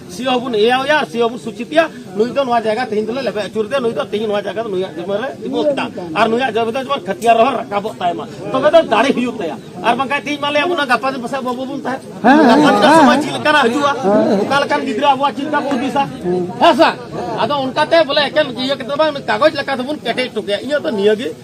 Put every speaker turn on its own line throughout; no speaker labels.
ᱥᱤ ᱦᱚᱵᱩᱱ ᱮᱭᱟᱣ ᱭᱟᱨ ᱥᱤ ᱦᱚᱵᱩᱱ ᱥᱩᱪᱤᱛᱤᱭᱟ ᱱᱩᱭ ᱫᱚ ᱱᱚᱣᱟ ᱡᱟᱭᱜᱟ ᱛᱮᱦᱮᱧ ᱫᱚᱞᱮ ᱞᱮᱵᱮ ᱟᱹᱪᱩᱨ ᱫᱮ ᱱᱩᱭ ᱫᱚ ᱛᱮᱦᱮᱧ ᱱᱚᱣᱟ ᱡᱟᱭᱜᱟ ᱫᱚ ᱱᱩᱭᱟᱜ ᱡᱤᱢᱟᱹ ᱨᱮ ᱛᱤᱸᱜᱩ ᱠᱮᱫᱟ ᱟᱨ ᱱᱩᱭᱟᱜ ᱡᱟᱭᱜᱟ ᱫᱚ ᱡᱮᱢᱚᱱ ᱠᱷᱟᱹᱛᱤᱭᱟᱨ ᱨᱮᱦᱚᱸ ᱨᱟᱠᱟᱵᱚᱜ ᱛᱟᱭ ᱢᱟ ᱛᱚᱵᱮ ᱫᱚ ᱫᱟᱲᱮ ᱦᱩᱭᱩᱜ ᱛᱟᱭᱟ ᱟᱨ ᱵᱟᱝᱠᱷᱟᱱ ᱛᱮᱦᱮᱧ ᱢᱟ ᱞᱟᱹᱭ ᱟᱵᱚᱱᱟ ᱜᱟᱯᱟ ᱫᱤᱱ ᱯᱟᱥᱮᱡ ᱵᱟᱵᱚ ᱵᱚᱱ ᱛᱟᱦᱮᱸ ᱜᱟᱯᱟ ᱫᱤᱱ ᱥᱚᱢᱚᱭ ᱪᱮᱫ ᱞᱮᱠᱟᱱᱟᱜ ᱦᱤᱡᱩᱜᱼᱟ ᱚᱠᱟ ᱞᱮᱠᱟᱱ ᱜᱤᱫᱽᱨᱟᱹ ᱟᱵᱚᱣᱟᱜ ᱪᱮᱫ ᱞᱮᱠᱟ ᱠᱚ ᱦᱩᱫᱤᱥᱟ ᱦᱮᱸ ᱥᱮ ᱟᱫᱚ ᱚᱱᱠᱟᱛᱮ ᱵᱚᱞᱮ ᱮᱠᱮᱱ ᱤᱭᱟᱹ ᱠᱟᱛᱮ ᱵᱟᱝ ᱠᱟᱜᱚᱡᱽ ᱞᱮᱠᱟ ᱫᱚᱵᱚᱱ ᱠᱮᱴᱮᱡ ᱦᱚᱴᱚ ᱠᱟᱭᱟ ᱤᱧᱟᱹᱜ ᱫᱚ ᱱᱤᱭᱟᱹ ᱜᱮ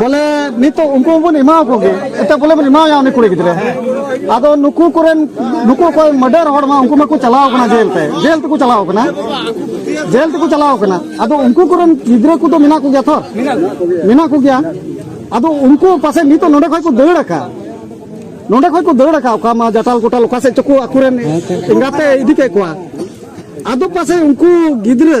ᱵᱚᱞᱮ ᱱᱤᱛᱚᱜ ᱩᱱᱠᱩ ᱵᱚᱱ ᱮᱢᱟ ᱠᱚ ᱜᱮ ᱮᱛᱮ ᱵᱚᱞᱮ ᱵᱚᱱ ᱮᱢᱟᱭᱟ ᱩᱱᱤ ᱠᱩᱲᱤ ᱜᱤᱫᱽᱨᱟᱹ ᱟᱫᱚ ᱱᱩᱠᱩ ᱠᱚᱨᱮᱱ ᱱᱩᱠᱩ ᱚᱠᱚᱭ ᱢᱟᱰᱟᱨ ᱦᱚᱲ ᱢᱟ ᱩᱱᱠᱩ ᱢᱟᱠᱚ ᱪᱟᱞᱟᱣ ᱠᱟᱱᱟ ᱡᱮᱞ ᱛᱮ ᱡᱮᱞ ᱛᱮᱠᱚ ᱪᱟᱞᱟᱣ ᱠᱟᱱᱟ ᱡᱮᱞ ᱛᱮᱠᱚ ᱪᱟᱞᱟᱣ ᱠᱟᱱᱟ ᱟᱫᱚ ᱩᱱᱠᱩ ᱠᱚᱨᱮᱱ ᱜᱤᱫᱽᱨᱟᱹ ᱠᱚᱫᱚ ᱢᱮᱱᱟᱜ ᱠᱚᱜᱮᱭᱟ ᱛᱚ ᱢᱮᱱᱟᱜ ᱠᱚᱜᱮᱭᱟ ᱟᱫᱚ ᱩᱱᱠᱩ ᱯᱟᱥᱮ ᱱᱤᱛᱚᱜ ᱱᱚᱰᱮ ᱠᱷᱚᱡ ᱠᱚ ᱫᱟᱹᱲ ᱟᱠᱟᱫ ᱱᱚᱰᱮ ᱠᱷᱚᱡ ᱠᱚ ᱫᱟᱹᱲ ᱟᱠᱟᱫ ᱚᱠᱟ ᱢᱟ ᱡᱟᱴᱟᱞ ᱜᱚᱴᱟᱞ ᱚᱠᱟ ᱥᱮᱫ ᱪᱚᱠᱚ ᱟᱠᱚᱨᱮᱱ ᱮᱸᱜᱟᱛᱮ ᱤᱫᱤ ᱠᱮᱫ ᱠᱚᱣᱟ ᱟᱫᱚ ᱯᱟᱥᱮ ᱩᱱᱠᱩ ᱜᱤᱫᱽᱨᱟᱹ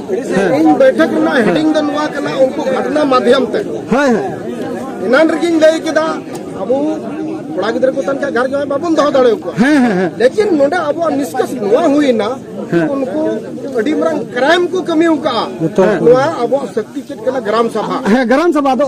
ᱤᱧ ᱵᱟᱹᱭᱴᱷᱟᱠ ᱨᱮᱱᱟᱜ ᱦᱮᱰᱤᱝ ᱫᱚ ᱱᱚᱣᱟ ᱠᱟᱱᱟ ᱩᱱᱠᱩ ᱜᱷᱚᱴᱱᱟ ᱢᱟᱫᱷᱭᱚᱢ ᱛᱮ ᱮᱱᱟᱱ ᱨᱮᱜᱤᱧ ᱞᱟᱹᱭ ᱠᱮᱫᱟ ᱟᱵᱚ ᱠᱚᱲᱟ ᱜᱤᱫᱽᱨᱟᱹ ᱠᱚ ᱛᱟᱦᱮᱱ ᱠᱷᱟᱱ ᱜᱷᱟᱨ ᱡᱟᱶᱟᱭ ᱵᱟᱵᱚᱱ ᱫᱚᱦᱚ ᱫᱟᱲᱮ ᱟᱠᱚᱣᱟ ᱞᱮᱠᱤᱱ ᱱᱚᱰᱮ ᱟᱵᱚᱣᱟᱜ ᱱᱤᱥᱠᱟᱥ ᱱᱚᱣᱟ ᱦᱩᱭᱱᱟ ᱩᱱᱠᱩ ᱟᱹᱰᱤ ᱢᱟᱨᱟᱝ ᱠᱨᱟᱭᱤᱢ ᱠᱚ ᱠᱟᱹᱢᱤ ᱟᱠᱟᱫᱼᱟ ᱱᱚᱣᱟ ᱟᱵᱚᱣᱟᱜ ᱥᱚᱠᱛᱤ ᱪᱮᱫ ᱠᱟᱱᱟ ᱜᱨᱟᱢ ᱥᱚᱵᱷᱟ ᱦᱮᱸ ᱜᱨᱟᱢ ᱥᱚᱵᱷᱟ ᱫᱚ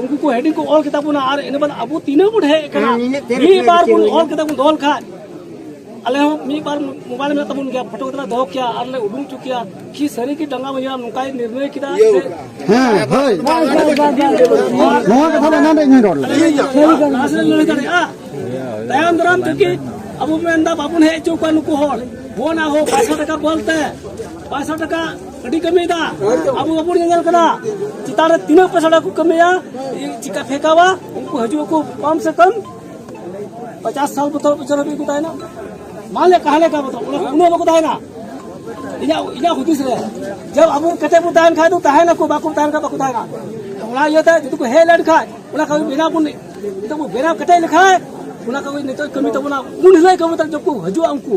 ᱩᱱᱠᱩ ᱠᱚ ᱦᱮᱰᱤᱝ ᱠᱚ ᱚᱞ ᱠᱮᱫᱟ ᱵᱚᱱᱟ ᱟᱨ ᱤᱱᱟᱹ ᱵᱟᱫ ᱟᱵᱚ ᱛᱤᱱᱟᱹᱜ ᱵᱚᱱ ᱦᱮᱡ ᱠᱟᱱᱟ ᱢᱤᱫ ᱵᱟᱨ ᱵᱚᱱ ᱚᱞ ᱠᱮᱫᱟ ᱵᱚᱱ ᱫᱚᱦᱚ ᱞᱮᱠᱷᱟᱡ ᱟᱞᱮ ᱦᱚᱸ ᱢᱤᱫ ᱵᱟᱨ ᱢᱳᱵᱟᱭᱤᱞ ᱢᱮᱱᱟᱜ ᱛᱟᱵᱚᱱ ᱜᱮᱭᱟ ᱯᱷᱳᱴᱳ ᱠᱟᱛᱮ ᱫᱚᱦᱚ ᱠᱮᱭᱟ ᱟᱨ ᱞᱮ ᱩᱰᱩᱝ ᱦᱚᱪᱚ ᱠᱮᱭᱟ ᱠᱤ ᱥᱟᱹᱨᱤ ᱜᱮ ᱰᱟᱸᱜᱟ ᱵᱟᱹᱧᱟ ᱱᱚᱝᱠᱟᱭ ᱱᱤᱨᱱᱚᱭ ᱠᱮᱫᱟ ᱦᱮᱸ ᱦᱳᱭ ᱱᱚᱣᱟ ᱠᱟᱛᱷᱟ ᱫᱚ ᱮᱱᱟᱱ ᱨᱮ ᱤᱧ ᱨᱚᱲ ᱞᱮᱫᱟ ᱞᱟᱦᱟ ᱥᱮᱫ ᱞᱟᱹᱭ ᱫᱟᱲᱮᱭᱟᱜᱼᱟ ᱛᱟᱭᱚᱢ ᱫᱟᱨᱟᱢ ᱛᱮᱜᱮ ᱟᱵᱚ ᱢᱮᱱᱫᱟ ᱵᱟᱵᱚᱱ ᱦᱮᱡ ᱦᱚᱪᱚ ᱠᱚᱣᱟ ᱱᱩᱠᱩ ᱦᱚᱲ ᱵᱚᱱ ᱟᱦᱚ ᱯᱟᱸᱪᱥᱚ ᱴᱟᱠᱟ ᱵᱚᱞᱛᱮ ᱯᱟᱸᱪᱥᱚ ᱴᱟᱠᱟ ᱟᱹᱰᱤ ᱠᱟᱹᱢᱤᱭᱮᱫᱟ ᱟᱵᱚ ᱵᱟᱵᱚᱱ ᱧᱮᱧᱮᱞ ᱠᱟᱱᱟ ᱪᱮᱛᱟᱱ ᱨᱮ ᱛᱤᱱᱟᱹᱜ ᱯᱮᱥᱟᱲᱟ ᱠᱚ ᱠᱟᱹᱢᱤᱭᱟ ᱪᱤᱠᱟ ᱯᱷᱮᱸᱠᱟᱣᱟ ᱩᱱᱠᱩ ᱦᱤᱡᱩᱜ ᱟᱠᱚ ᱠᱚᱢ ᱥᱮ ᱠᱚᱢ ᱯᱚᱪᱟᱥ ᱥᱟᱞ ᱵᱚᱛᱚᱨ ᱵᱚᱪᱷᱚᱨ ᱦᱟᱹᱵᱤᱡ ᱠᱚ ᱛᱟᱦᱮᱱᱟ ᱢᱟᱞᱮ ᱠᱟᱦᱟ ᱞᱮᱠᱟ ᱵᱚᱛᱚᱨ ᱩᱱᱟᱹᱜ ᱵᱟᱠᱚ ᱛᱟᱦᱮᱱᱟ ᱤᱧᱟᱹᱜ ᱤᱧᱟᱹᱜ ᱦᱩᱫᱤᱥ ᱨᱮ ᱡᱟᱵ ᱟᱵᱚ ᱠᱟᱛᱮ ᱵᱚ ᱛᱟᱦᱮᱱ ᱠᱷᱟᱡ ᱫᱚ ᱛᱟᱦᱮᱱᱟᱠᱚ ᱵᱟᱠᱚ ᱛᱟᱦᱮᱱ ᱠᱷᱟᱡ ᱵᱟᱠᱚ ᱛᱟᱦᱮᱱᱟ ᱚᱱᱟ ᱤᱭᱟᱹᱛᱮ ᱡᱩᱫᱤ ᱠᱚ ᱦᱮᱡ ᱞᱮᱱ ᱠᱷᱟᱡ ᱚᱱᱟ ᱠᱟᱹᱢᱤ ᱵᱮᱱᱟᱣ ᱵᱚᱱ ᱱᱤᱛᱚᱜ ᱵᱚ ᱵᱮᱱᱟᱣ ᱠᱮᱴᱮᱡ ᱞᱮᱠᱷᱟᱡ ᱚᱱᱟ ᱠᱟᱹᱢᱤ ᱱᱤᱛᱚᱜ ᱠᱟᱹᱢᱤ ᱛᱟᱵᱚᱱᱟ ᱩᱱ ᱦᱤᱞᱳᱜ ᱠᱟᱹᱢᱤ ᱛᱟᱵᱚᱱᱟ ᱡᱚᱠᱷᱚᱱ ᱠᱚ ᱦᱤᱡᱩᱜᱼᱟ ᱩᱱᱠᱩ